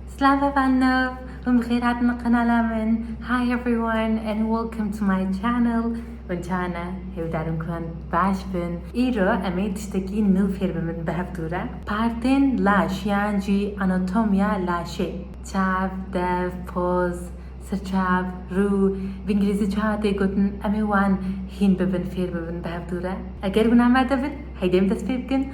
Slava van nov, hûn bi xêr hatin li qenala min. Hi everyone and welcome to my channel. Min çawa ne, hêvdarim ku em baş bin. Îro em ê tiştekî nû fêr bibin bi hev dû re. Partên laş yan jî anatomya laşê, çav, dev, poz, sirçav, rû, bi îngilîzî çawa tê gotin em ê wan hîn bibin fêr bibin bi hev dû re. Eger wina me de bin, heydê em dest pê bikin.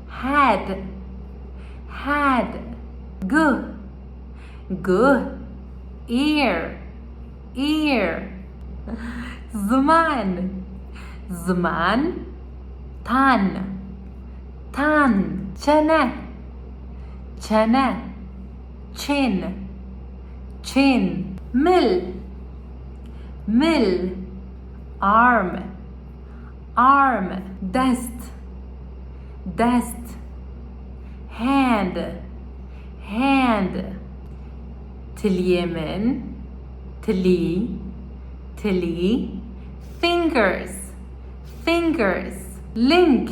Had Had Guh Guh Ear Ear Ziman Ziman Tan Tan Çene Çene Çên Çên Mil Mil Arm Arm, dest, dest. Hand, hand. Tiliyê min, tilî, tilî. Fingers, fingers. Ling,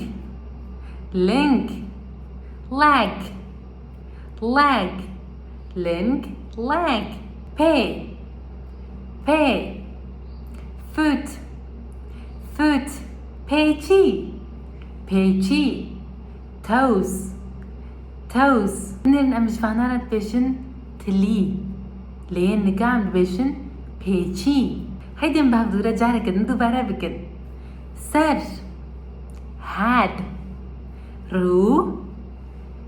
ling. Leg. leg ling leg pê pê foot foot pêçî pêçî toes toes Hûn ên em ji vana re dibêjin tilî lê yên nika em dibêjin pêçî Heydê em bi hev dûre careke din dubare bikin ser head rû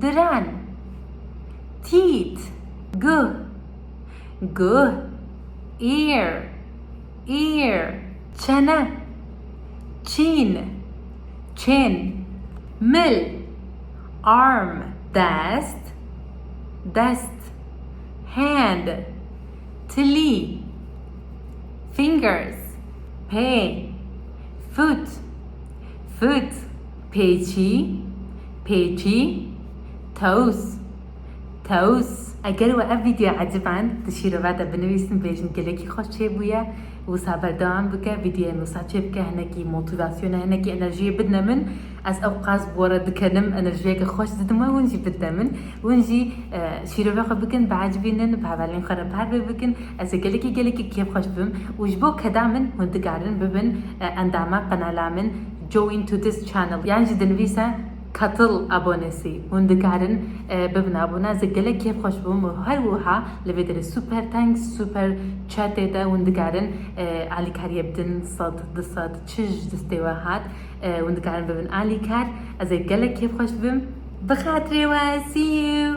diren, tît, guh, guh, ear, ear, çene, çîn, chin, mil, arm, dest, dest, hand, tilî, fingers, pê, foot, foot. Pêçî, pêçî, tewz, tewz. Eger we ev vîdyoya eciband di şîrove de binivîsin bêjin gelekî xweş çêbûye. Wisa berdewam bike vîdyoyên wisa çêbike hinekî motîvasyone hinekî enerjiyê bidine min. Ez ew qas bi we re dikenim enerjiyeke xweş didim we hûn jî bidine min. Hûn jî şîrove xwe bikin biecibînin bi hevalên xwe re pervê bikin. Ez ê gelekî gelekî kêfxweş bibim û ji bo keda min hûn dikarin bibin endama qenala min. Join to this channel yan jî dinivîse Katıl abonesi hûn dikarin bibin abone ez ê gelek kêf xweş bûm û her wiha li vê derê super thanks super chatê de hûn dikarin alîkariyê bidin sed du sed çij destê we hat hûn dikarin bibin alîkar ez ê gelek kêf xweş bibim bi xatirê we see you